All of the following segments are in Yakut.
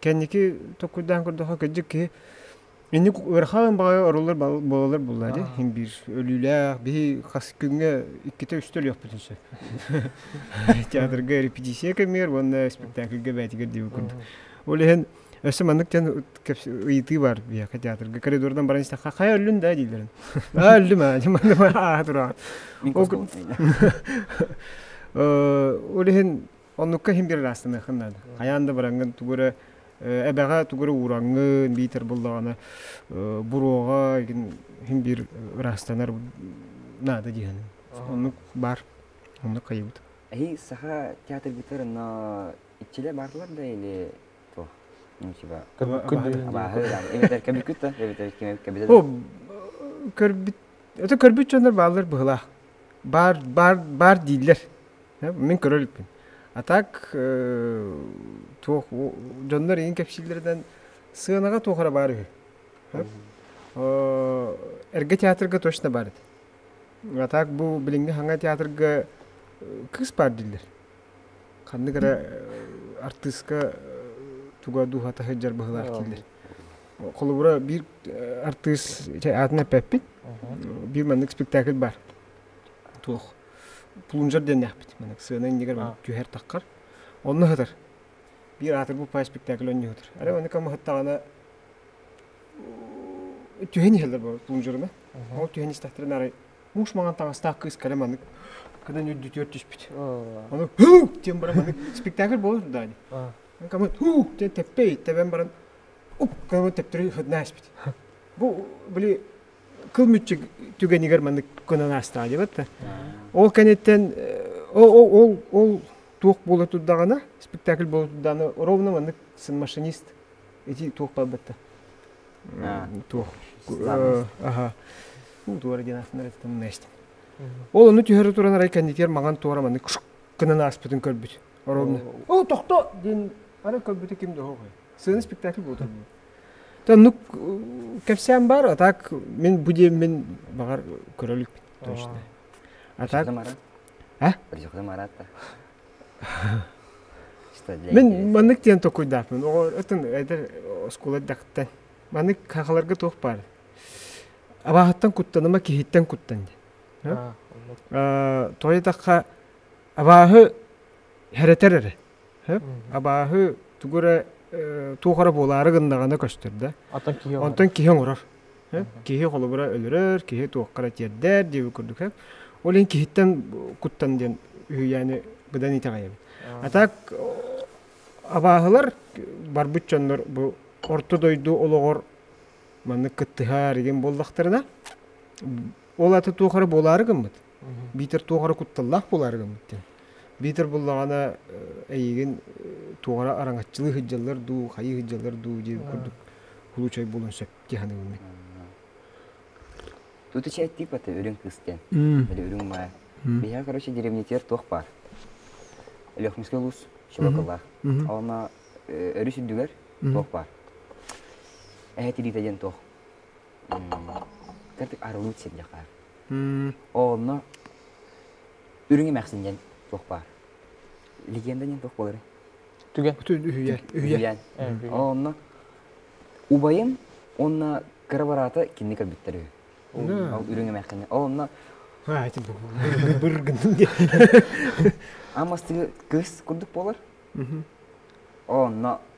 Кэнники токкуйдаан көрдөхө кырдьык киһи инник ыарахан баҕайы орулар буолалар буоллари иһин биир өлүүлээх биһи хас күҥҥэ иккитэ-үстэ өлүөхпүтүн сөп театрга репетиция кэмигэр уонна спектакльга бээтигэр диэбит курдук ол иһин өссө маннык диэн ыйытыы баар биһиэхэ театрга коридордан баран истэх хайа өллүн да дииллэрин а өллүм а ааһа тураҕын ол иһин Оннукка иһин бир ыраастаныахын наада. Хайаан да быраҥҥын тугу эрэ эбэҕэ тугу эрэ уураҥҥын биитэр буллаҕына буруоҕа иһин бир ыраастанар наада диэхин. Оннук баар. Оннук хайыбыт. Эһи саха театргытыр но иччилэ баарлар да или то ну типа абааһы эбэтэр кэбиккүт да эбэтэр кэбитэ да көрбүт өтө көрбүт дьоннор бааллар быһылаах баар баар баар дииллэр Мин көрөр эппин. А так туох дьоннор ийин кэпсииллэринэн сыанаҕа туох эрэ баар үһү. Эргэ театрга точно бар эти. А так бу билиҥҥи хаҥа театрга кыыс баар дииллэр. Ханнык эрэ артыыска туга дууһата сылдьар быһыылаах дииллэр. Холобура биир артыыс атын эппэппит. Биир маннык спектакль бар. туох плунжер диэннээхпит маннык сыана иннигэр түһэр таххар онно ыһытар биир аатыр буппай спектакль онньу ыһытар арай маннык мыһыттаҕына түһэн иһэллэр бу плунжеруна ол түһэн истэхтэринэ арай муус маҥан таҥастаах кыыс кэлэ маннык кыдан үрдүтүөр түспүт ону һуу диэн баран маннык спектакль буолар даани кому һуу диэн тэппэй тэбэн баран уп кому тэптери ыһытна испит бу были кыл мүччү түгэнигэр маннык көнөн аастаҕа диэбэт да ол кэнниттэн ол ол туох буола турдаҕына спектакль буола турдаҕына ровно маннык сын машинист ити туох барбытта туох аха уу туора диэн аатынарыттан мынээстин ол ону түһэрэ туран арай кэннитигэр маҥан туора маннык кынын ааспытын көрбүт ровно оо тохто диэн ары көрбүтэ ким да хоһой сыаны спектакль буолтар Оннук кэпсээн баар, а так мин бу диэммин баҕар көрө иликпит точно. А так... А? Мен маннык диэн токуйдааппын. Оҕо өтүн эдер оскуола дакта. Маннык хахаларга туох баар. Абаахыттан куттаныма киһиттэн куттан ди. Тоy такка абааһы хәрэтер эрэ. Сөп. Абааһы тугу эрэ туох эрэ буолаары гыннаҕына көстөр да. Оттон киһи оҥорор. Оттон киһи оҥорор. Киһи холобура өлөрөр, киһи туохха эрэ тиэрдэр диэбит курдук. Ол иһин киһиттэн куттан диэн үһүйээни быдан итэҕэйэбин. А так абааһылар барбыт дьоннор бу орто дойду олоҕор маннык кыттыһар игин буоллахтарына Ол аты туох эрэ буолаары гыммыт. Биитэр туох эрэ кутталлаах буолаары гыммыт дин. Биитэр буллаҕына эйигин туора араҥаччылыы сыддьаллар дуу, хайыы сыддьаллар дуу дии курдук кулучай буолан сөп дии саныыбын. Тут ичай тип это үрүҥ кыстен. Или үрүҥ мая. Биһиги, короче, деревнитер туох бар. Лехминский луз, шелакылар. Оны өрүс үрдүгэр туох бар. Эһэ тириитэ диэн туох. кырдык арылыт сирдьэхэ онно үрүҥ эмэхсин диэн туох баар легенда диэн туох буолар түгэн бүтүн үһүйэн үһүйэн онно убайым уонна кыра бараата кинини көрбүттэр үһү ол үрүҥ эмэхсини онно быр гынным диэн ам астыгы кыс курдук буолар онно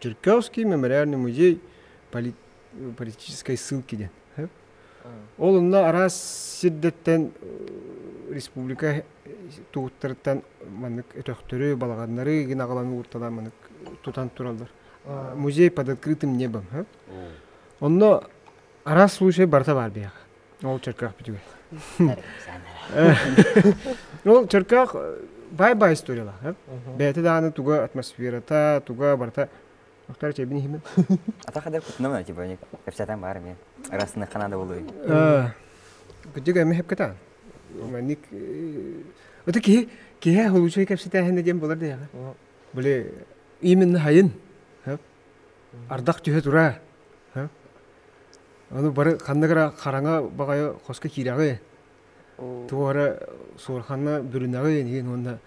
Черкесский мемориальный музей политической ссылки диэн. Ол онно араас сирдэртэн республика тугуттарыттан маннык өтөхтөрү, балаҕаннары гынаҕалан уурталаан маннык тутан тураллар. Музей под открытым небом. Онно араас случай барыта баар бэйэҕэ. Ол чөркөөх бүтүгэй. Ол чөркөөх бай-бай историялаах. Бэйэтэ дааны туга атмосферата, туга барыта Охтор чэбин иһимин. Атах адыр кутнамна типа кэпсэтен бар мен. Расны канада болой. Күтүг эми хепкетан. Манник Ото киһи киһи холучай кэпсетээһин диэн болар диэҕэ. Были именно хайын. Ардах түһэ тураа, ону бары ханнык эрэ хараҥа баҕайы хоско киирэҕи, туох эрэ суорҕанна бүрүнэҕи иһин уонна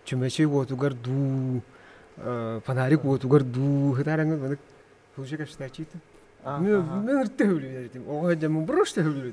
чөмөчүй уотугар дуу, фонарик уотугар дуу ытаарыҥҥын маннык уже качествачита мө мөр төһүлү биэрдим оҕо сылдьаммын бруш төһүлү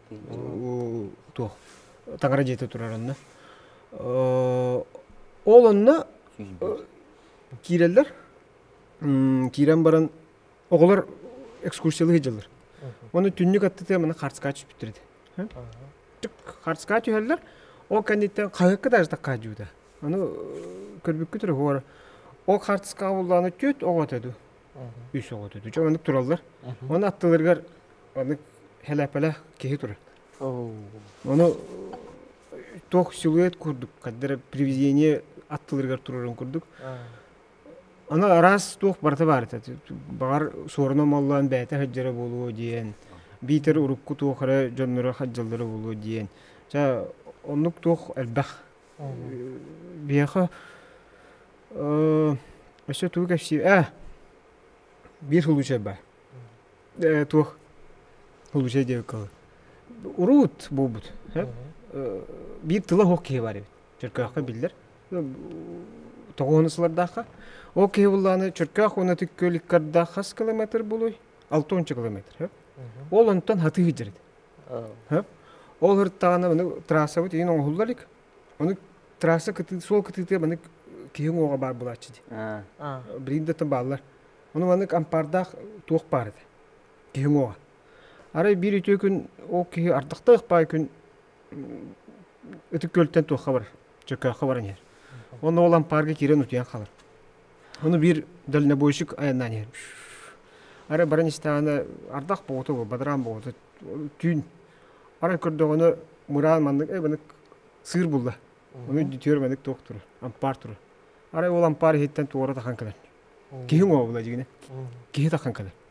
туох таҥара дьиэтэ турар онно ол онно киирэллэр киирэн баран оҕолор экскурсиялыы сылдьаллар уонна түннүк аттытыа мана хартскаа түспүттэр ити хартскаа түһэллэр ол кэнниттэн хаһыакка даже таккаа дьуута аны көрбүккү тура ол хартскаа буллааны түөт оҕото ду үс оҕо төтө. Чэ, маннык тураллар. Оны аттыларыгар маннык хэлээпэлэ киһи турар. Оны туох силуэт курдук, каддера привидение аттыларыгар турарын курдук. Аны араас туох барыта бар это. Баҕар суоруна маллаан бэйэтэ хадьара буолуо диэн, биитэр урукку туох эрэ дьонноро хадьаллара буолуо диэн. Ча оннук туох элбэх Биһиэхэ өссө тугу кэпсиир ээ биир сулучай баар ээ туох сулучай диэбиккэ дылы урут буолбут биир тыла суох киһи баар эбит чөркөөххө биллэр тоҕуона сылардаахха ол киһи буллааны чөркөөх уонна тыккы иккардаах хас километр булуй алта уонча километр ол онтон атыы сылдьар этэ Ол ыртаана аны трассабыт иин оҥоһулла илик. Ону трасса кытыы суол кытыытыгар маннык киһи уҥуоҕа баар буолааччы дии. Бриндэттэн бааллар. Ону маннык ампаардаах туох баар этэ. Киһи уҥуоҕа. Арай биир үтүө күн ол киһи ардахтаах баай күн ытык күөлтэн туохха барар. Чөкөөххө баран иһэр. Онно ол ампаарга киирэн утуйан хаалар. Ону биир дальнобойщик айаннаан иһэр. Арай баран истэҕинэ ардах боҕута бу, бадараан боҕута, түүн. Баран көрдөҕүнэ мыраан маннык, эй маннык сыыр булла. Ону үтүөр маннык туох тура, ампаар тура. Арай ол ампаар иһиттэн туора тахан кэлэн. Киһи уҥуоҕа була дьигинэ. Киһи тахан кэлэн.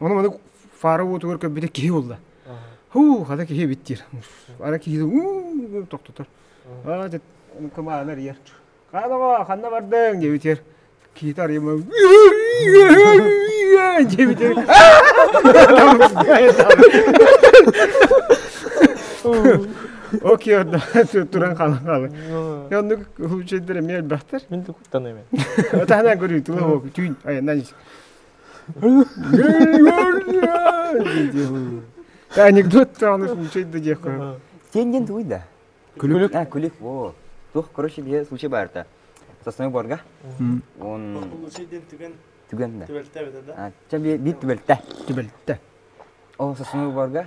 Ону маннык фара уотугар көппүтэ киһи буолла. Һуу, хата киһи биттиир. Ара киһи уу тохтотор. Аа, кымааны эрийэр. Хаанова, ханна бардыҥ? диэбитигэр киһитэ арыйма диэбитигэр Окей, туран халан хаалы. Оннук хучейдер эмиэ элбэхтер. Мин де куттаныймын. Таһынан көрүү, тулы хоп, түүн айаннан анекдот тааныш мучайт да диэххэ сенден туй да күлүк а күлүк о туох короче бие случай барта сосной борга он түгэн да түбэлтэ бит түбэлтэ түбэлтэ о сосной борга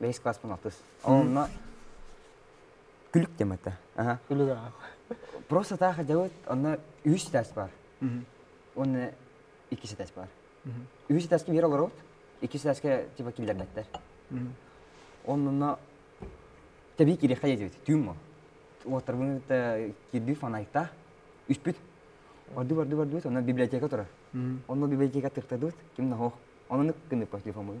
бэһис кылааспын алтыс. Онно күлүк диэн этэ. Просто так делают. Онно үһүс этээс бар. Уонна иккис этээс бар. Үһүс этээскэ биир олоробут. Иккис этээскэ типа киллэрбэттэр. Онно тэбии кириэхэ диэбит. Түүн мо. Уоттарбын кирби фанайта. Үспүт. Орду барду бардыбыт. Онно библиотека турар. Онно библиотека тыктадыбыт. Ким наһох. Онны кынып по телефону.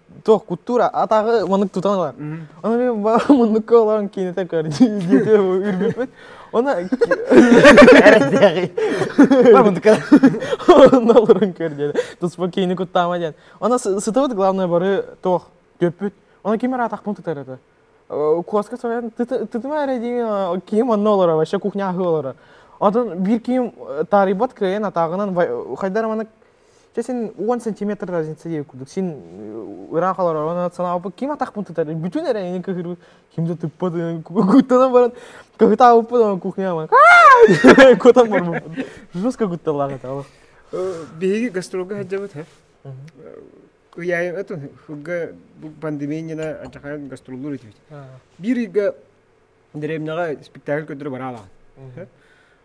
Туох куттуура атаҕы маннык тутан ылар. Ону мен муннукка олорон киинэтэ көр диэтэ үрбүппүт. Оны муннукка онно олорон көр диэтэ. Туспа киини куттаама диэн. Она сытыбыт главное бары туох дүппүт. Оны ким ара атахпын тутар это. Куоска соян тытыма эрэ дии киим онно олора вообще кухня аһы олора. Отон бир киим тарибат крейен атагынан хайдар манык Чэ син уон сантиметр разница диэбит курдук син ыраах олоророн санаабыппыт ким атахпын тутар бүтүн эрэйини кыһырбыт кимde тыппыт куттанан баран кыһытаабыппын кухняма кутан барбыппын жестко кутталлаах это биһиги гастролга сылдьабыт һэ ыйаайын атын хылга пандемияна анчахайын гастроллуур этибит биир ыйга дэриэбинэҕэ спектакль көрдөрө бараалаан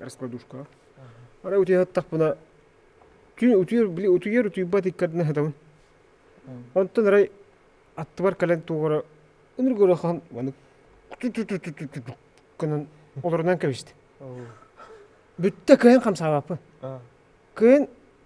раскладушка. Ара утуйаттахпына утуйар били утуйар утуйбат иккардына хатабын. Онтон арай аттыбар кэлэн туора ыныргырыхан манык кынан олорунан кэбисти. Бүтте кыйын хамсаабаппын. Кыйын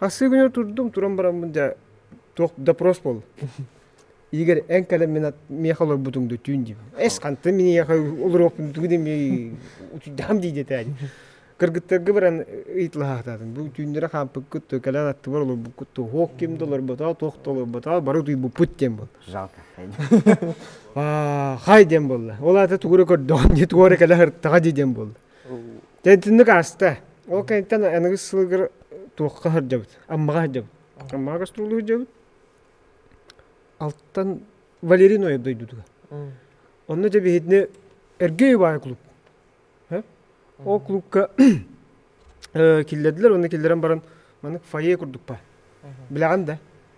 Хасыы күнү турдум, туран бараммын дьэ туох допрос буол. Игорь эн кэлэн мен миэхэ олорбутуҥ да түүн дим. Эс ханты миниэхэ олоруохпун тугу дими учуйдахам дии дэтэ. Кыргыттарга баран ыйытылаахататын. Бу түүннэрэ хаампыккыт то кэлэн аттыбар олорбуккут то хоох ким да олорботоо, туох да олорботоо, бары утуйбуппут диэн бол. Жалко. Аа хай диэн болла. Ол аата тугура көрдөҕүн дии туора кэлэ хыртаҕа дии диэн болла. Тэнитинник ааста. Ол кэнниттэн аныгыс сылыгар туохха сылдьабыт? Аммаҕа сылдьабыт. Аммаҕа гастролга сылдьабыт. Алтан Валерий Ноев дойдутугар. Онно дьэ биһитини Эргэй убайа клуб. Ол клубка киллэрдилэр уонна киллэрэн баран маннык фойе курдукпа. Билэҕин да?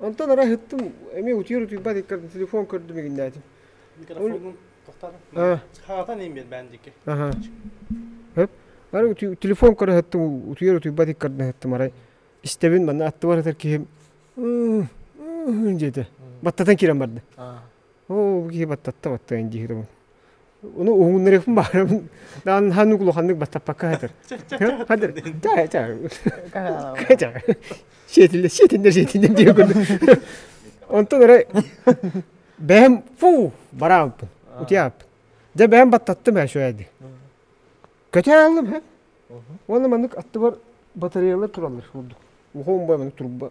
Онтон ара ыһыттым, эмиэ утуйар утуйбат иккэрдин телефон көрдүм игиннээтим. Микрофоҥҥун тохтотон. Хаатан им бээн дикке. Аха. Хөп. Ары телефон көрө ыһыттым, утуйар утуйбат иккэрдин ыһыттым арай. Истэбин манна аттыбар ытар киһим дьиэтэ. Баттатан киирэн барда. Оо, киһи баттатта баттайын диирим. Ону уһугуннарыахпын баарым. Даан хан улаханнык баттаппакка хатыр. Хатыр. Ча, ча. Ча. Сетиллер, сетиллер, сетиллер диye көрдüm. Онтон ара бэйэм фу барааппын. Утияппын. Дьэ бэйэм баттаттым һэ шуэди. Көтө алым һэ. Уонна маннык аттыбар батареялар туралар курдук. Ухом бай маннык турба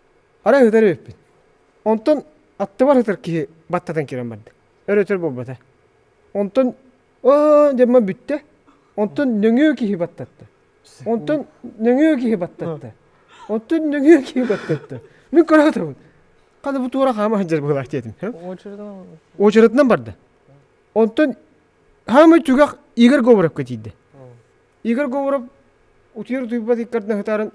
Арай ытар эбиппин. Онтон аттыбар ытар киһи баттатан киирэн барда. Өр-өтөр буолбата. Онтон «Оо!» диэн бүттэ. Онтон нөҥүө киһи баттатта. Онтон нөҥүө киһи баттатта. Онтон нөҥүө киһи баттатта. Мин көрөөтөбүн. Хата бу туора хаама сылдьар быһыылаах диэтим. Очередынан барда. Онтон хаамай түгэх Игорь Говоровка тиийдэ. Игорь Говоров утуйар утуйбат иккардын сытарын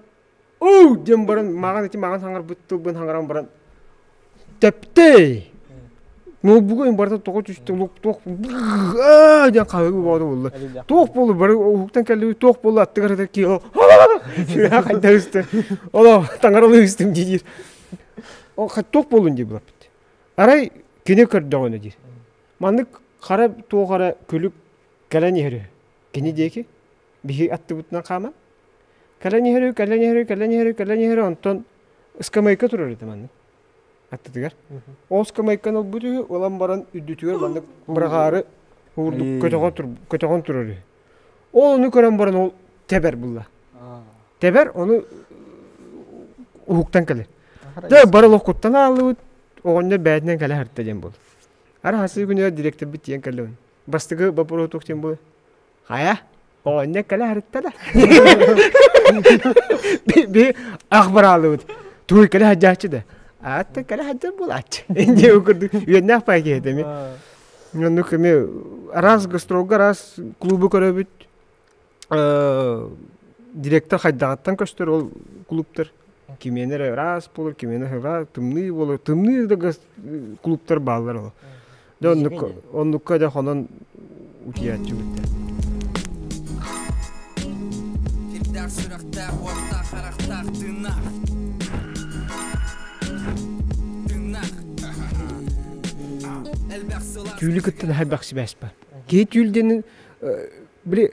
уу диэн баран маҕан ити маҕан саҥарбыт тылбын саҥаран баран тэптей ноутбугу барыта тоҕо түсте лук туох диэн хаһыгы баҕата буолла туох буолла бары уһуктан кэлли туох буолла аттыгар атар ки сүрэҕэ хайда үсті оло таҥаралыы үстүм диир ол туох буолун дии былаппыт арай кини көрдөҕүнэ диир маннык хара туох эрэ күлүк кэлэн иһэрэ Кини диэки биһи аттыбытынан хааман кэлэн иһэрүү кэлэн иһэрүү кэлэн иһэрүү кэлэн иһэрүү онтон ыскамыайка турар ити маннык аттытыгар ол ыскамыайканы ылбыт үһү ылан баран үрдүтүгэр маннык быраҕаары уурдук көтөҕөн тур көтөҕөн турар үһү ол ону көрөн баран ол тэбэр булла тэбэр ону уһуктан кэлэр дэ бары локуттан ааллыбыт оҕонньор бэйэтинэн кэлэ сырытта диэн буолла ара сыы күнүгэр дириэктэрбит тиийэн кэллэ бастакы боппуруотук диэн буолуо хайа оҕонньор кэлэ сырытта да би ах бараалыбыт туой кэлэ сылдьааччы да аатта кэлэ сылдьар буолааччы дии курдук үөннээх пай киһитэ ми оннук эми араас гастролга араас клубу көрөбүт директор хайдаҕыттан көстөр ол кулууптар кимиэнэ эрэ ыраас буолар кимиэнэ ыһыга тымныы буолар тымныы да кулууптар бааллар ол дэ оннукка оннукка дэ хонон утуйааччыбыттар сирдээх сүрэхтээх уоттаах харахтаах тыыннаах тыыннаах түүлү кытта хайбах сибээспэ киһи түүл диэн Били,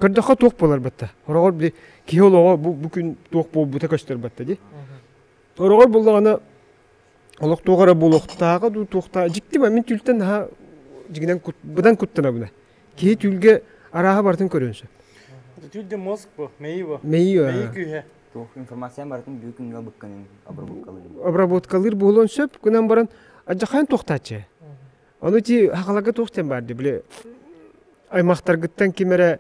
көрдөххө туох буолар батта? Ороҕор били киһи олоҕо бу, бу күн туох буолбута көстөр батта дии. Ороҕор буоллаҕына олох туох эрэ буолуохтааҕа дуу туохтааҕа дьикти мин түүлтэн наһаа дьигинэн кут быдан куттанабына киһи түүлгэ арааһа барытын көрүөн сөп. Түүл де мозг бу, мэйии бу. Мэйии Мэйии күүһэ. Туох информация барытын бүгүн күнгө быкканын обработкалыыр. Обработкалыыр буолуон сөп. Кунан баран адьахайын туохтааччы. Ону ти хахалага туох тем барды били аймахтаргыттан ким эрэ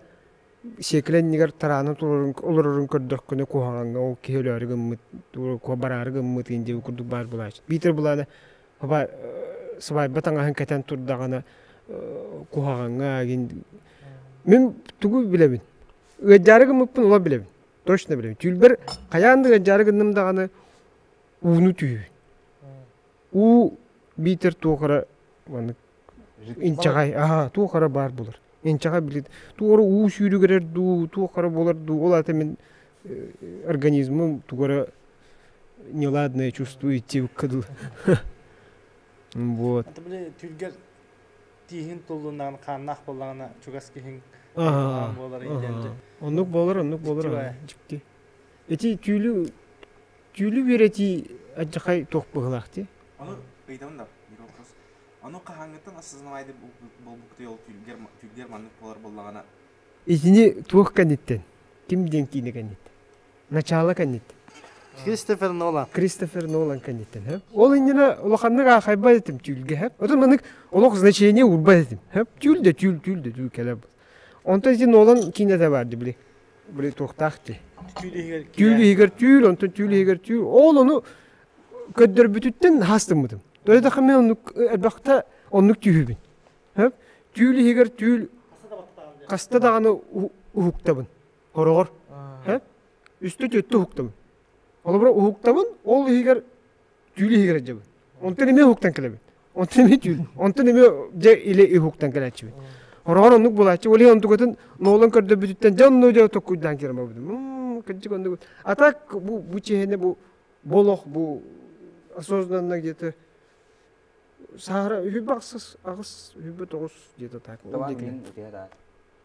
сиэкилэннигэр тараана турорун олорорун көрдөхкүнэ куһаҕаҥҥа ол киһи өлөөрү гыммыт бараары гыммыт индия курдук баар булааччы биитэр булаана хоба сыбаайба таҥаһын кэтэн турдаҕына куһаҕаҥҥа гин мин тугу билэбин ыадьаары гыммыппын ола билэбин точно билэбин түүлбэр хайаан да ыадьаары гынным даҕаны ууну түһүбүн уу биитэр туох эрэ маннык инчэҕэй аһаа туох эрэ баар булар инчэҕэй били туох эрэ уу сүүрүгүрэр дуу туох эрэ буолар дуу ол аата мин организмым тугу эрэ неладное чувствует тивка дылы вот это били түргэл тииһин туллуннаҕын хааннаах буоллаҕына чугас киһиҥ буолар интэн оннук буолар оннук буолар дьикти эти түүлү Түүлү үөрэтии адьахай туох быһылаахтый? Ону ыйытабын да биир вопрос. Ону хаһааҥҥыттан осознаваемый буолбуккутуй ол түүлгэр түүлгэр маннык буолар буоллаҕына? Итини туох кэнниттэн? Ким диэн киинэ кэнниттэн? Начаала кэнниттэн? Кристофер Нолан. Кристофер Нолан кэнниттэн, һэ? Ол иннинэ улаханнык аахайбат этим түүлгэ, һэ? Отон маннык олох значение уурбат этим, һэ? Түүл да түүл, түүл да түүл кэлэр. Онто ити Нолан киинэтэ баар дии, били. Туохтаах ти? Түүл иһигэр түүл, онтон түүл иһигэр түүл. Ол ону көрдөрбүтүттэн хас тыммытым. Дойдаха мен оннук элбэхте оннук түйүбүн. Түүл иһигэр түүл хаста даҕаны уһуктабын хороҕор. Үстө төттө уһуктабын. Олобро уһуктабын, ол иһигэр түүл иһигэр эджабын. Онтон эмиэ уһуктан кэлэбин. Онтон онтон эмиэ дьэ илэ үһуктан кэлээччибит. Ороҕор оннук булааччы, ол иһин онтукатын ноолон көрдөрбүтүттэн дьэ онно дьэ токкуйдаан киирэн барбытым. Кырдьык оннук. А так бу бу чиэһинэ бу болох бу осознанно где-то саара үһү бахсыс аҕыс үһүбү тоҕус где-то так.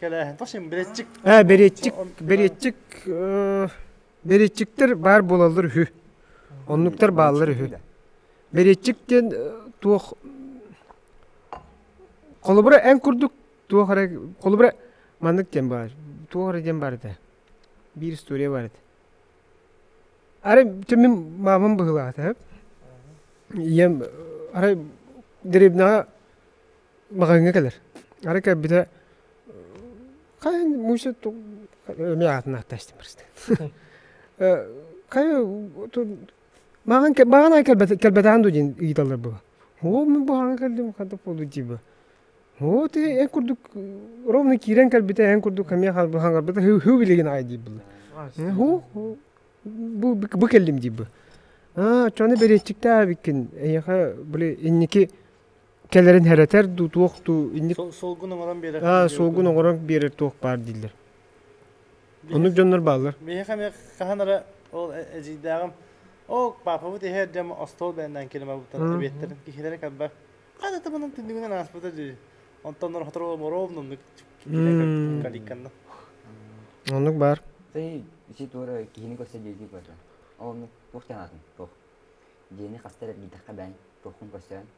Э, беретчик, беретчик, э, беретчиктер баар буолаллар үһү. Оннуктар бааллар үһү. Беретчик диэн э, туох холобура эн курдук туох эрэ холобура маннык диэн баар. Туох эрэ диэн бар этэ. Биир история бар этэ. Арай мен мамам быһылаата. Ийэм арай дребнаҕа Маҕаҥҥа кэлэр. Арай кэлбитэ хайа Муся эмиэ аатын аатта истим просто хайа баҕанан кэлбэтэҕин дуу диэн ыйыталлар буолуо. Оо мин баҕанан кэллим хантан буолуой дии бу. Оо ити эн курдук ровно киирэн кэлбитэ эн курдук эмиэ хаҥарбыта һуу билигин аҕай дии буолла. Һуу бу кэллим дии бу. А оччоҕуна бэриэтчиктээбиккин эйиэхэ били инники кэлэрин херэтер дуу туох дуу инник солгун оҥорон биэрэр аа солгун оҥорон биэрэр туох баар дииллэр оннук дьоннор бааллар миэхэ эмиэ хаһан эрэ ол эдьиийдээҕим оо паапабыт иһэ эрдэм остуол бээннээн киримабыттар эбиэттэрин киһилэрэ кэлбэ хата табанын түннүгүнэн ааспыта дии онтон сотору моруом муннук каликканна оннук баар ты ити туора киһини көрсө диэки көрдө ол оннук туохтан аатын туох диэни хастар эргитэххэ бээн туоххун көрсөн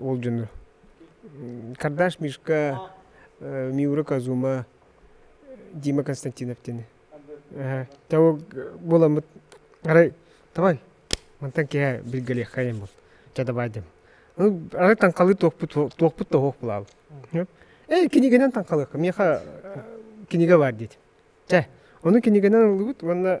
ол дьону Кардаш Мишка, Миура Казума, Дима Константиновтыын того буоламмыт арай давай мантан киэһэ билгэлиэххэйин бу чадабаайдым арай таҥхалыы туохпут туохпут да оһох булаал ээ кинигэнэн таҥхалыахха миэхэ кинигэ баар диэтим чэ ону кинигэнэн ыллыбыт уонна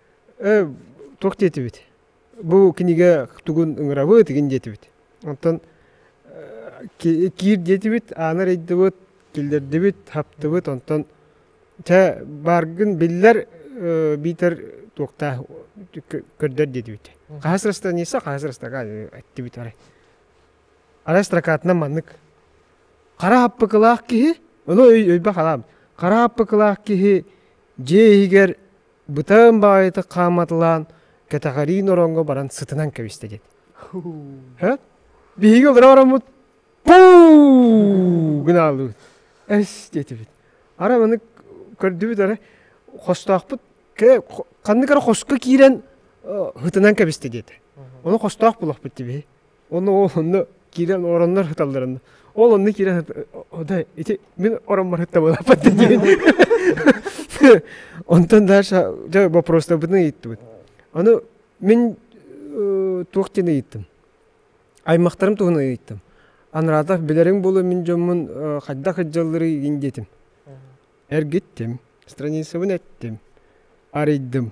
туох диэтибит бу кинигэ тугун ыҥырабыт игин диэтибит оттон киир диэтибит аана арыйдыбыт киллэрдибит хаптыбыт онтон чэ бааргын биллэр биитэр туохтаах көрдөр диэтибит хаһыс расстояниеса хаһыс расстояга эттибит арай арай строкатынан маннык хара хаппыкылаах киһи ону өйбө халаам хара хаппыкылаах киһи дьиэ иһигэр бытаан баайыта хааматылаан кэтэҕэриин ороҥҥо баран сытынан кэбистэ диэт биһиги олоро ороммут пуу гынаалыыбыт эс диэтибит ара маннык көрдүбүт эрэ хостоохпут ханнык эрэ хоско киирэн һытынан кэбистэ диэтэ ону хостоох булахпыт дии биһи Онно ол онно киирэн ороннор сыталларын. Ол онно киирэн да ити мин ороммор сыттабылаппаттын диэн. Онтон дальше дьэ вопростарбытын ыйыттыбыт. Аны мин туох диэн ыйыттым. Аймактарым туһун ыйыттым. Анраатах билэриҥ буолу мин дьоммун хайдах ыддьаллырый диин диэтим. Эргиттим, страницабын эттим, арыйдым.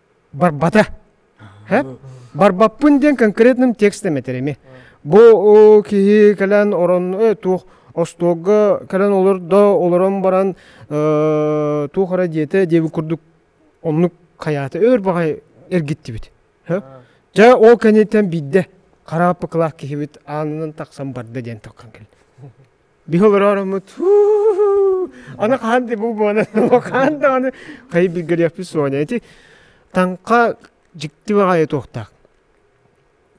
барбата. Барбаппын диэн конкретным текстом этэрими. Бу киһи кэлэн орон туох остуолга кэлэн олордо олорон баран туох эрэ диэтэ диэби курдук оннук хайаата өр баҕай эргиттибит. Дьэ ол кэнниттэн биирдэ харааппыкылаах киһибит аанынан тахсан барда диэн токкан кэлэн. Биһи олоророммут аны хаһан да бу буона хаһан да аны хайы билгэлиэхпит суоня ити таҥха дьикти баҕайы туохтаах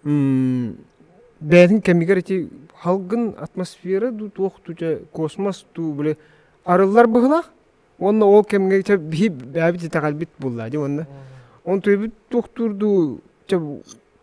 бэйэтин кэмигэр ити халгын атмосфера дуу туох дуу дьэ космос дуу били арыллар быһылаах уонна ол кэмгэ чэ биһи бэйэбит итэҕэлбит булла дьэ уонна он туйбут туохтуур дуу чэ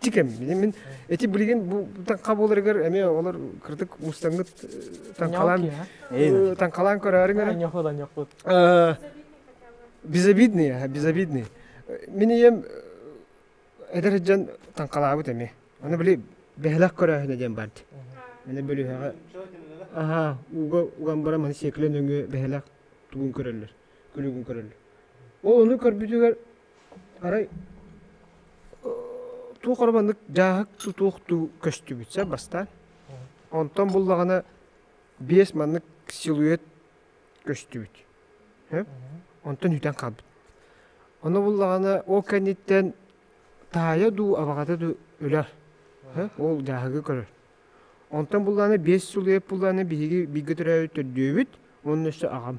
тикем мин эти билигин бу таҥха буоларыгар эмиэ олор кырдык мустангыт таҥхалаан таҥхалаан көрөөрүҥ эрэ безобидные безобидные мин ийэм эдэр дьон таҥхалаабыт эми аны били бэһэлэх көрөөһүнэ диэн бард аны бөлүһэҕэ аха уга угамбара маны секлен өҥө бэһэлэх тугун көрөллөр күлүгүн көрөллөр ол ону көрбүтүгэр Арай туох ора маннык дьааһык туох дуу көстүбүт сэр бастаан. Онтон буллаҕына биэс маннык силуэт көстүбүт. Онтон үтэн хаалбыт. Ону буллаҕына ол кэнниттэн таайа дуу, абаҕата дуу өлөр. Ол дьааһыгы көрөр. Онтон буллаҕына биэс силуэт буллаҕына биһиги бииргэ төрөөбүт төрдүөбүт, онно өссө аҕам.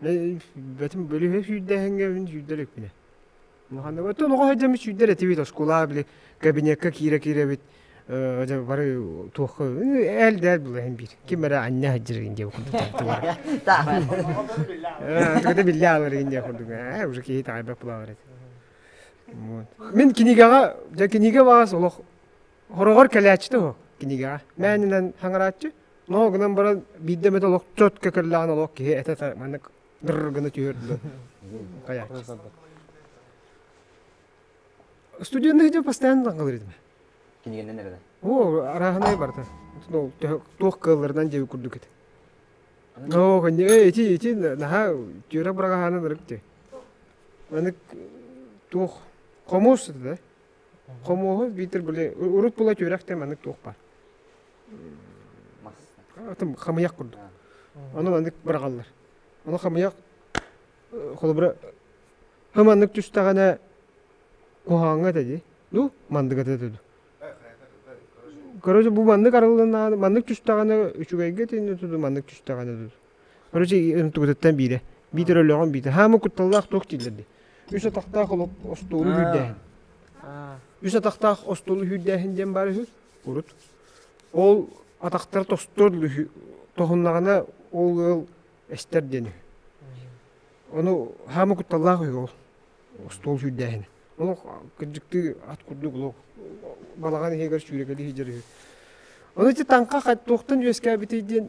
Бэтим бөлүһүө сүүрдээһиҥҥэ мин сүүрдэр эппинэ. Ханнык оттон оҕо сылдьан сүүрдэр этибит оскуолаҕа били кабинекка киирэ-киирэбит дьэ бары туохха ээл дээл булаһын биир ким эрэ анньа сылдьаргын диэ курдук биллэ ааларгын диэ курдук ээ уже киһи таҕайбат булаҕар этэ мин кинигэҕэ дьэ кинигэ баҕас олох Хороҕор кэлээччитэ уһу кинигэҕэ. Мээнэнэн хаҥарааччы. Ноо гынан баран биирдэ эмит олох чотко кэллэҕин олох киһи этэ маннык дырр гына түһүөрдү. Хайааччы. Студеннык дьэ постоянно таҥгалыр этим. Кинигэннэн эрэнэн. Оо, арааһынай барыта. Туох кыалларынан дьэ курдук этэ. Оо, конне, эй, ити, ити, наһаа түөрэ бырагаһаанан ырык дьэ. Маннык туох хомуус это да? Хомуоһу биитэр были урут була түөрэх те маннык туох бар. Атын хамыйах курдук. Ону маннык бырагаллар. Ону хамыйах холобура хыманнык түстэҕинэ куһааҥҥа тэди. Ну, мандыга тэдэду. Короче, бу маннык арылланааны маннык түстэҕинэ үчүгэйгэ тиинэ туду маннык түстэҕинэ туду. Короче, тугутуттан биирэ. Биитэр өлөҕөн биитэ. Хаама кутталлаах туох дииллэрди. Үс атахтаах олох остуолу үүрдээһин. Үс атахтаах остуолу үүрдээһин диэн баар үһү. Урут. Ол атахтар тостор үһү. Тоһуннаҕына ол ыал эстэр диэн үһү. Ону хаама кутталлаах үһү ол. Остуол үүрдээһин. Олох кырдьыктыы ат курдук олох балаҕан иһигэр сүүрэкэли иһдьэр үһү. Ону ити таҥха туохтан үөскээбитий диэн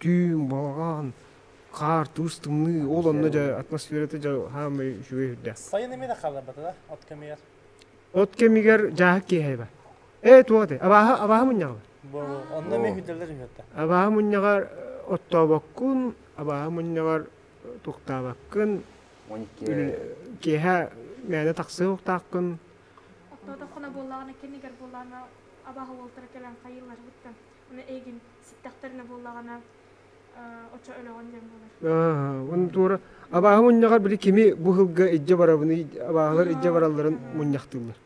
түүн балаҕан хаартус тымныы ол онно дьэ атмосферата дьэ хаамай үчүгэй үрдээх Сайын эмиэ да хааларбатыла от кэмигэр. от кэмигэр дьааһык киэһэбэ ээ туоте абааһы абааһы мунньаҕы Бу онно эмиэ хүллэлэр үһүөттэ. абааһы мунньаҕар оттообоккун абааһы мунньаҕар туктаабаккын Он икки киэһэ мээнэ тахсыа уктаахкын Оттоотоххуна буоллаҕына кэннигэр буоллаҕына абааһы уолтара кэлэн хайыылар быттан. Оны эйгин ситтэхтэринэ буоллаҕына оччо өлөҕүн диэн буолар он туора абааһы мунньаҕар били кими бу сылга илдьэ барабыный абааһылар илдьэ баралларын мунньахтыыллар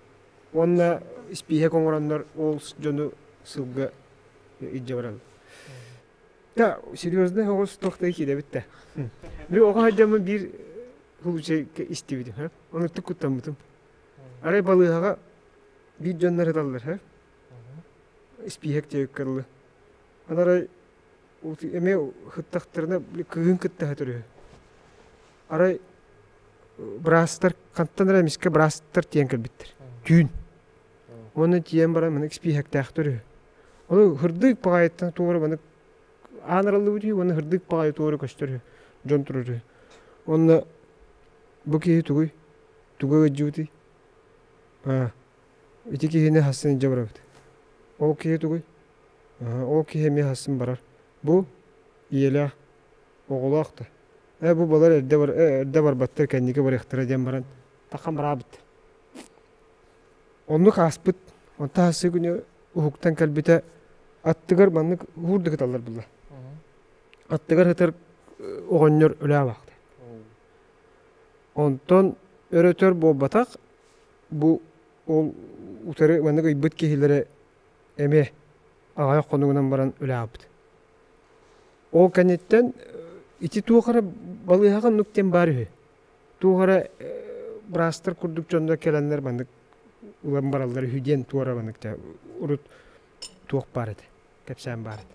уонна испииһэк оҥороннор ол дьону сылга илдьэ бараллар да серьезный оҕус тохтай кидэбит да били оҕо садьаммын биир лучше истибитим ха онуттук куттаммытым арай балыыһаҕа биир дьоннор ыталлар ха испииһэк диэки кырылы. Арай эмиэ ыһыттахтарына кыыһын кытта ыһытар үһү. Арай быраастар хантан эрэ эмискэ быраастар тиийэн кэлбиттэр. Түүн. Уонна тиийэн баран маны испииһэктээхтэр үһү. Ону һырдык баҕайыттан туора маны аан арыллыбыт үһү уонна һырдык баҕайы туора көстөр үһү. Дьон турар үһү. Уонна бу киһи тугуй? Туга ыалдьыбытый? Аа Ити киһини хассын илдьэ барабыт. Ол киһи тугуй? Ол киһи эмиэ хассын барар. Бу ийэлээх, оҕолоох да. Ээ бу балар эрдэ эрдэ барбаттар кэнники барыахтара диэн баран тахан бараабыттар. Оннук ааспыт. Онтон хассы күнү уһуктан кэлбитэ аттыгар маннык уһуур да кыталлар буолла. Аттыгар сытар оҕонньор өлөөбөхтөр. Онтон өр-өтөр буолбатах бу ол утары маннык ыйбыт киһилэрэ эмиэ аҕайах хонугунан баран өлөҕөппүт. Ол кэнниттэн ити туох эрэ балыыһаҕа нук диэн баар үһү. Туох эрэ быраастар курдук дьоннор кэлэннэр маннык ылан бараллар үһү диэн туора маннык урут туох баар этэ, кэпсээн баар этэ.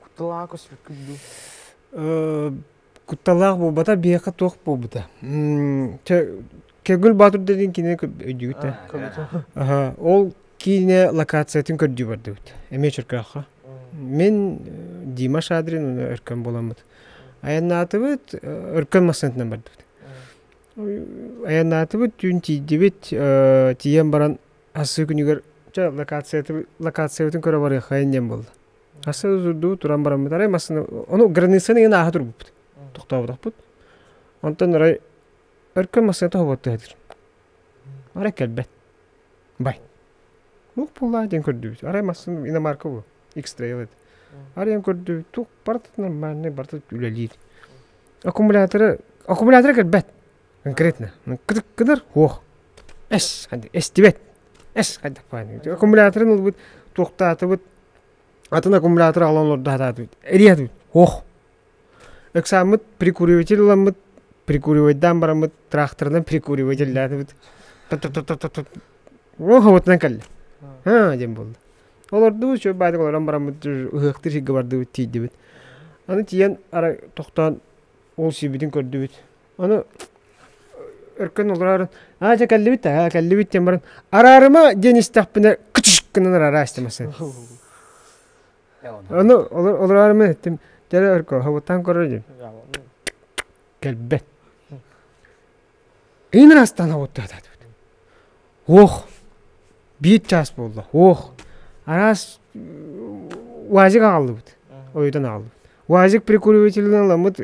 Куталаах көспүт күндү. Кутталаах буолбата биэхэ туох буолбута көгүл боотур деген кинине өйдүгүтэ ол киинэ локациятын көрдүү бардыбыт эмиэ чөркөөххө мин дима шадрин уна өркөн буоламмыт айаннаатыбыт өркөн массыынатынан бардыбыт айаннаатыбыт түүн тиийдибит тиийэн баран ассыы күнүгэр локациябытын көрө барыаххайын диэн буолла Асы дуу туран бараммыт. Арай массыына ону границаны иһин ааһа турбуппут. Тохтооботохпут. Онтон арай өркөн массыыната хоботто этир. Арай кэлбэт. Бай. Ух буллаа диэн көрдүбүт. Арай массыына иномарка буо. X-Trail edi. Арайан көрдүбүт. Тух барыта нормальный, барыта үлэлиир. Аккумуляторы аккумулятора кэлбэт. конкретно ну кыдыр уох эс эстибэт эс хайдах баай аккумуляторын ылбыт туохтаатыбыт атын аккумулятор аҕалан олордо сатаатыбыт эриэтибит уох ыксааммыт прикуриватель ыламмыт прикуривайдаан бараммыт траахтарынан прикуривателлээтибит уох обутунан кэллэ аа диэн буолла олордубут чөл баатык олорон бараммыт ыһыахтыыр сиргэ бардыбыт тиийдибит аны тиийэн ара тохтоон ол сирбитин көрдүбүт Ону өркөн олороорун аа дьэ кэллибит аа кэллибит диэн баран араарыма диэн истэхпинэ кычыш гынан араараа истэмэсэн ону олороорума эттим дьэ өркө хобуттаан көрөр диим кэлбэт иҥнэн астаан хобуттаатаатыбыт Уох, биир чаас буолла, уох, араас УАЗик аҕаллыбыт, ойутан аҕаллыбыт. УАЗик прикуривателин аламмыт,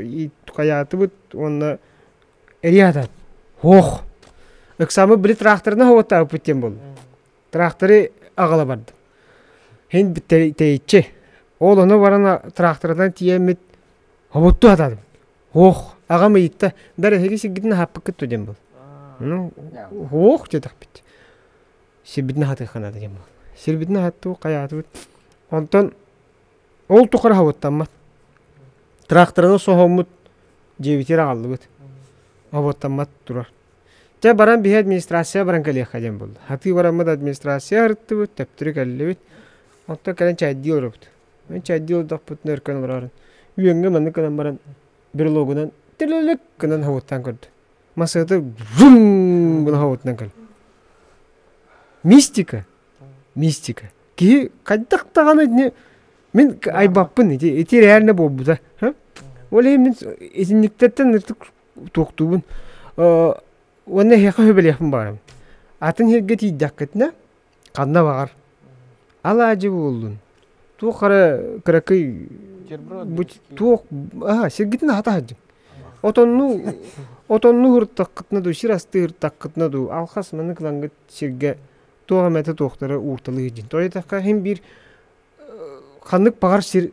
хайаатыбыт уонна эрийэ сатаат, уох, ыксааммыт били траахтарына уоттаабыппыт диэн буолла. Траахтары аҕала бардым. Иһин тэйиччи, ол ону баран траахтарынан тиийэммит, хобуттуу сатаатым. Һуох, аҕам ыйытта, дар эһиги сиргитин аһаппыккыт дуо диэн бол. Ну, һуох диэтэхпит. Сирбитин аһатыахха наада диэн бол. Сирбитин аһаттыбыт, хайаатыбыт. Онтон ол тухары хоботтоммот. Тракторына соһоммут, дьиэбитигэр аҕаллыбыт. Хоботтоммот турар. Дьэ баран биһи администрацияҕа баран кэлиэххэ диэн буолла. Атыы бараммыт администрация арыттыбыт, төптөрү кэллибит. Онтон кэлэн чайдыы олоробут. Мин чайдыы олордохпутуна өр көрөн олороорун үөҥҥэ маннык гынан баран брелогунан тилилик гынан хоһуттаан көрдө. Массыына врум гына хоһуттаан көрдө. Мистика, мистика. Киһи хайдах даҕаны итини мин айбаппын ити, ити реально буолбута. Ол иһин мин итинниктэртэн ытык туохтуубун уонна эһиэхэ сөбүлэһиэхпин баҕарабын. Атын сиргэ тиийдэххитинэ ханна баҕар алаадьы буоллун туох эрэ кыракый туох аһа сиргитин аһата сылдьыҥ отонну отонну уһуруттаххытына дуу сир астыы ыһыктаххытына дуу алхас маннык ылаҥгыт сиргэ туох эмэтэ туохтара уурталыы сылдьыҥ тоҕо диэтэххэ иһин биир ханнык баҕар сир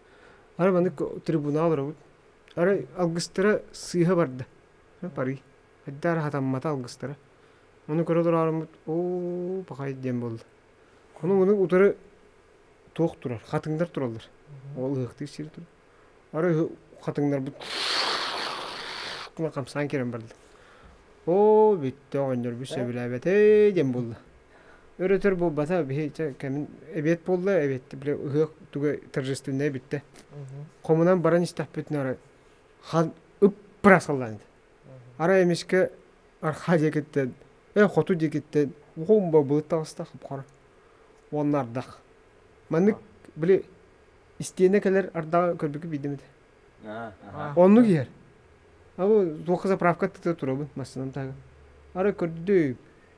Ары маннык трибунал оробут. Ары алгыстара сыыһа барда. Пари. Эддара хатаммата алгыстара. Ону көрө тураарыммыт, оо, пахай диэн буолла. Ону ону утары туох турар, хатыҥдар тураллар. Ол ыһыктыыр сир тур. Ары хатыҥнарбыт хамсаан киирэн барда. Оо, бүттэ оҕонньор бүс сөбүлээбэтэ диэн буолла. Өрөтөр буолбата биһи чэ кэмин эбиэт буолла эбиэт били ыһыах тугу торжественнай бүттэ. Хомунан баран истэхпитинэ ара хан ыппырас ыллаан. Ара эмискэ арха диэкиттэн э хоту диэкиттэн уһун бабылыт таҕыстах бухара уоннардах. Маннык били истиэнэ кэлэр ардаҕа көрбүкү биидимит. Оннук иһэр. Абу туохха заправка тыты турабын массанам тага. Ара көрдү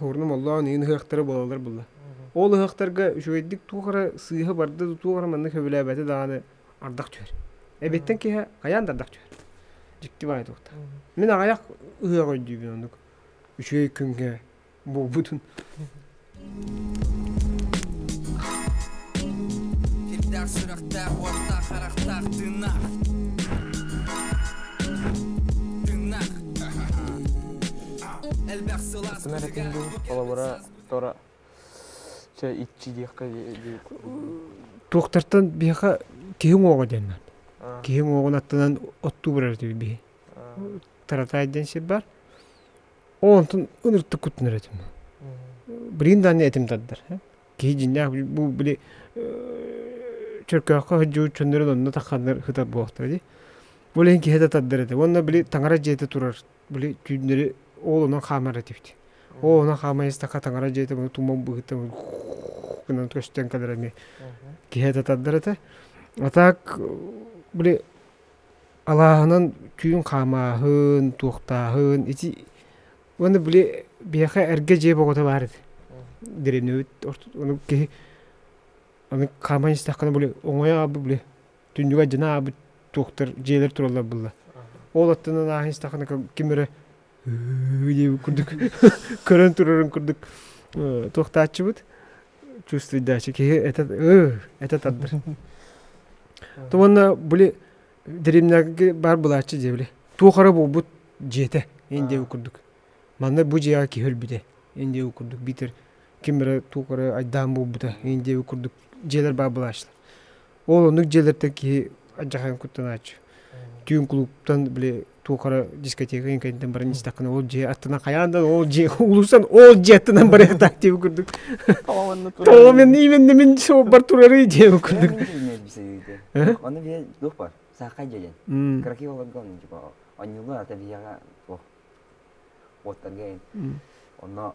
Оҕурнум олоон иһин ыһыахтара буолаллар буолла. Ол ыһыахтарга үчүгэйдик туох эрэ сыыһа барда да туох эрэ манна көбүлээбэтэ даҕаны ардах түһэр. Эбиэттэн киһи хайаан да ардах түһэр. Дьикти баҕайы туохтаах. Мин аҕыйах ыһыах өйдүүбүн оннук үчүгэй күнгэ буолбутун. Сирдээх сүрэхтээх уоттаах харахтаах тыыннаах. Тыыннаах. Атын эрэ күн дуу, холобура, тора чэ иччи диэххэ Туохтартан биһиэхэ киһи уҥуоҕа диэннэр. Киһи уҥуоҕун аттынан оттуу барар этибит биһи. Таратаай диэн сир бар. Ол онтон ыныртык куттанар этим. Билигин даанны этим тардар. Киһи дьиннээх бу били чөркөөххө хыдьуу чөннөрүн онно тахханнар хытар буолахтар ди. Ол иһин киһи да тардар этэ. Уонна били таҥара дьиэте турар били түүннэри оолунан хаамар этибит оолунан хааман истэххэ таҥара дьиэтэ маны туман быһыыта гынан көстөн кэлэр эмиэ киһи этэ этэ а так били алааһынан түүн хаамааһын туохтааһын ити уонна били биһиэхэ эргэ дьиэ бөҕөтө баар ити древнэбит ону киһи аны хааман истэххинэ били оҥойо били түннүгэ дьинаабыт туохтар дьиэлэр тураллар буолла ол аттынан ааһан истэххинэ ким эрэ диэбит курдук көрөн турарын курдук туохтааччыбыт чувствуйдааччы киһи этэ этэ тардыр туонна були деревняга баар былааччы дьэ били туох эрэ буолбут дьиэтэ эн диэбит курдук манна бу дьиэҕэ киһи өлбүтэ эн диэбит курдук биитэр ким эрэ туох эрэ айдаан буолбута эн диэбит курдук дьиэлэр баар былааччылар Ол оннук дьиэлэртэн киһи адьахайан куттанааччы. Түүн кулууптан били туохара дискотека иҥкэнтэн баран истэххинэ ол дьиэ аттынан хайаан да ол дьиэ улуустан ол дьиэ аттынан барыахтаах диэбит курдук. Ол мен именно мен суоппар турарый диэбит курдук. Ону билэ туох бар саахай дьэдэн кракиоларга оннук типа онньулар ата бияга туох уоттарга онно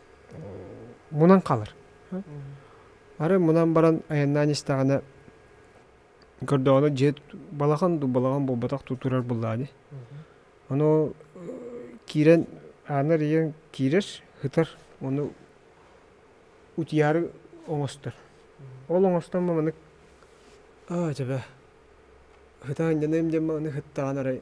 мунан хаалар. Ары мунан баран айаннаан истэҕинэ көрдөҕүнэ дьиэ балаҕан дуу балаҕан буолбатах дуу турар буоллаҕа ини. Ону киирэн аанар ийэҥ киирэр, ытар, ону утуйаары оҥостор. Ол оҥостон маннык аа дьэ бээ ытаан дьаныам диэн маҕаны ытtaҕына эрэ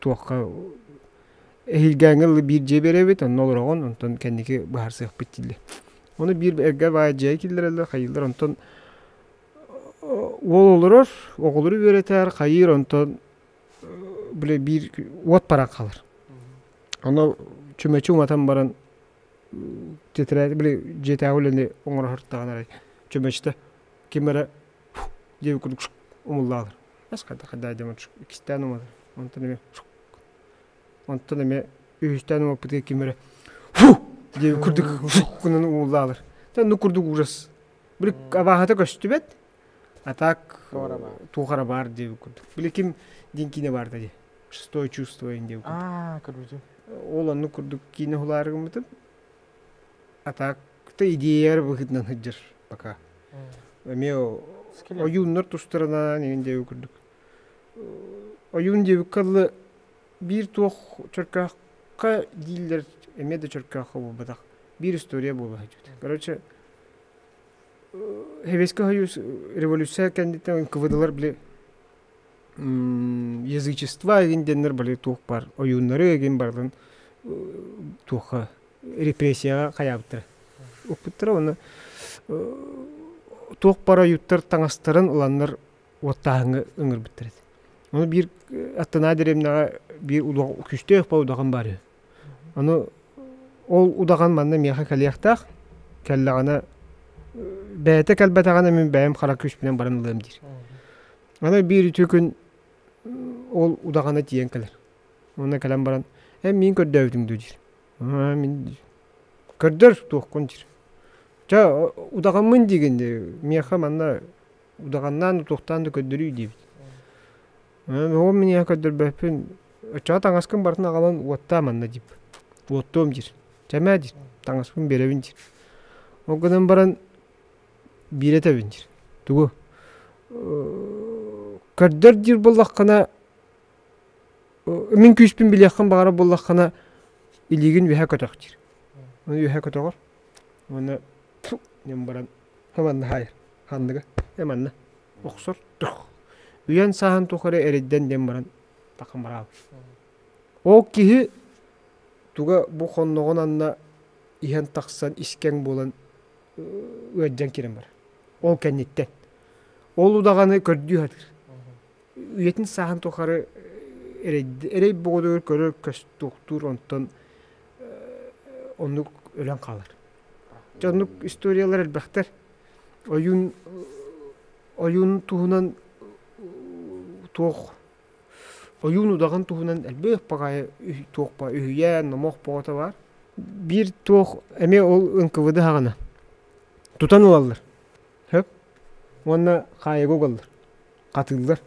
туохха эһилгээҥҥэ ылы биир дьиэ биэрэбит онно олороҕун онтон кэнники быһаарсыахпыт дииллэр оны биир эргэ баай дьиэ киллэрэллэр хайыыллар онтон уол олорор оҕолору үөрэтэр хайыыр онтон били биир уот баран хаалар ону чүмэчи уматан баран титирээти били дьиэтээҕи үлэни оҥороһортаҕына эрэ чүмэчитэ ким эрэ дьиэ курдук умуллаалар ас хайдах хайдах дьэ иккистээн уматар онтон эмиэ онтон эмиэ үһүстээн умаппытыгар ким эрэ дьиэ курдук гынан умуллаалар онно курдук ужас били абааһыта көстүбэт а так туох эрэ баар дии курдук били ким диэн киинэ баар да дии шестое чувство диэн курдук ол оннук курдук киинэ хулаары гыммытым А так то идеяр быһытынан сылдьар пока эмиэ ойууннар тустарынан иһин диэби курдук ойуун диэбиккэ алла биир туох чөркөөххө дииллэр эмиэ да чөркөөххө буолбатах биир история буола сылдьыбыт короче сэбиэскэй сойуус революция кэнниттэн НКВДлар били язычество эгин диэннэр бары туох бар ойууннары эгин барлын туохха репрессияҕа хайаабыттара укпуттара уонна туох бар ойууттар таҥастарын ыланнар уоттааһыҥҥа ыҥырбыттар эти ону биир аттанаа дэриэбинэҕэ биир удах күстөөх баудахым бар үһү Аны ол удаҕан манна миэхэ кэлиэхтээх, кэллэҕинэ бэйэтэ кэлбэтэҕинэ мин бэйэм хара күүспүнэн баран ылыам диир. Аны биир үтүө күн ол удаҕана тиийэн кэлэр. Уонна кэлэн баран эн миин көрдөөбүтүҥ дуу диир. мин көрдөр туоххун диир. Чэ удаҕаммын диигин миэхэ манна удаҕаннаан туохтаан да көрдөрүүй диэбит. Уол мин ийэҕэ көрдөрбөппүн оччоҕо таҥаскын барытын аҕалан уоттаа манна диир. Уоттуом диир. Чэмээ диир. Таҥаспын биэрэбин диир. Ол гынан баран биэрэ этэбин диир. Тугу көрдөр диир буоллаххына мин күүспүн билиэххин баҕарар буоллаххына илиигин үөһэ көтөх диир. Ону үөһэ көтөҕөр. Уонна баран хаман наһаайар. Ханныгы? Э манна. охсор үйэн сааһын тухары эрэйдэн диэн баран такымыраал ол киһи туга бу хонноҕун анна иһэн тахсан искэҥ буолан ыаддьан киирэн барар ол кэнниттэн ол удаҕаны көрдүү сатыыр үйэтин сааһын тухары эрэй боҕодугар көрөр көс туохтуур онтон оннук өлөн хаалар Дьоннук историялар элбэхтэр. Ойуун ойуун туһунан туох ойуун удаҕан туһунан элбэх паҕайы туохпа үһүйээн номох боҕото баар. Биир туох эмиэ ол НКВД аһаҕана тутан ылаллар сөп уонна хаайыга угаллар хатыыллар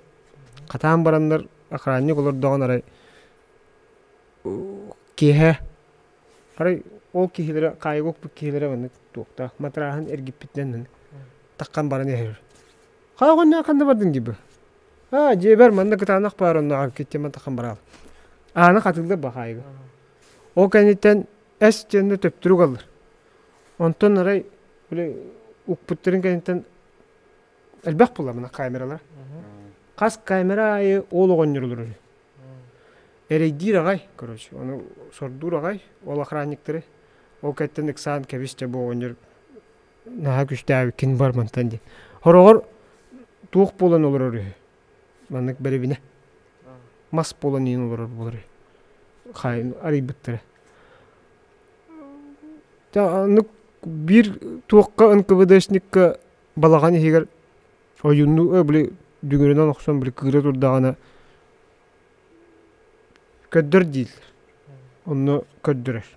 хатаан бараннар охранник олордоҕун арай киэһэ Арай ол киһилэрэ хаайга укпут киһилэрэ маннык туохтаах матырааһын эргиппитинэн маннык таххан баран иһэр. Хаайга онно ханна бардыҥ дии бу? Аа дьиэбэр манна кытаанах баар оннооҕор киттиэм таххан бараал. Ааны хатыыллар бу хаайга. Ол кэнниттэн эс диэн да төптөрү угаллар. Онтон арай били укпуттарын кэнниттэн Элбэх булламына камералар. Хас камера айы ол оҕонньор олорор. Эрэйдиир аҕай, короче, ону сордуур аҕай, ол охранниктары. Ол кэттен ыксаан кэбисчэ бу оҕонньор наһаа күстээбиккин бар мантан диэн. Хороҕор туох буолан олорор үһү. Маннык бэрэбинэ. Мас буолан иин олорор болар үһү. Хайын арыйбыттара. Та аннык биир туохха ынкыбыдышникка балаҕан иһигэр ойуннуу били дүҥүрүнэн охсон били кыыра турдаҕына көрдөр дииллэр онно көрдөрөр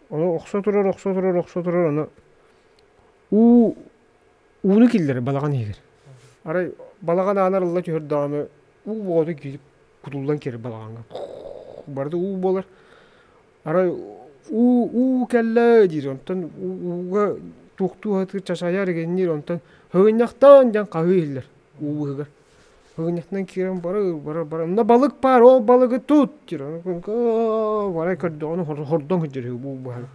ону охсо турар охсо турар охсо турар аны уу ууну киллэрэр балаҕан иһигэр арай балаҕан аанар ылла түһэрдэҕинэ уу боҕоту киирик кутуллан киирэр балаҕаҥҥа барыта уу буолар Арай уу уу кэллэ диир онтон ууга туохтуу сатыыр чачайар игэнниир онтон һыгынньахтаан диэн хаһыы иһиллэр уу быыһыгар һыгынньахтан киирэн барыр барар барар мына балык баар ол балыгы тут диир арай көрдөҕүнэ хордон сылдьар үһү уу быыһаһан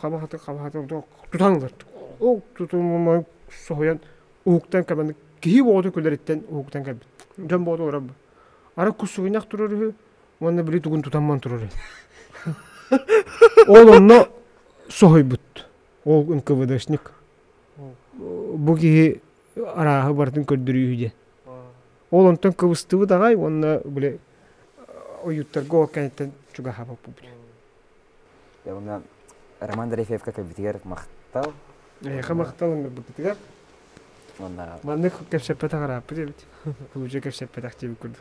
хаба сатык хаба сатык тутан ылар ол тутумумай соһуйан уһуктан кэлбэт киһи боҕоту күлэриттэн уһуктан кэлбит дьон боҕоту олорор арай куссугунньах турар үһү Уонна били тугун тутамман туруray. Ол онно соһуйбут. Ол НКВДшник. Бу киһи арааһы барытын көрдөрүү диэн. Ол онтон кыбыстыбыт аҕай уонна били ойууттарга ол кэнниттэн чугаһаппыппыт. Уонна Роман Дрейфевка кэлбитигэр махтал. Эйиэхэ махтал ыҥырбыппытыгар. Маннык кэпсэппэтэх арааппыт эбит. Лучше кэпсэппэтэх диэбит курдук.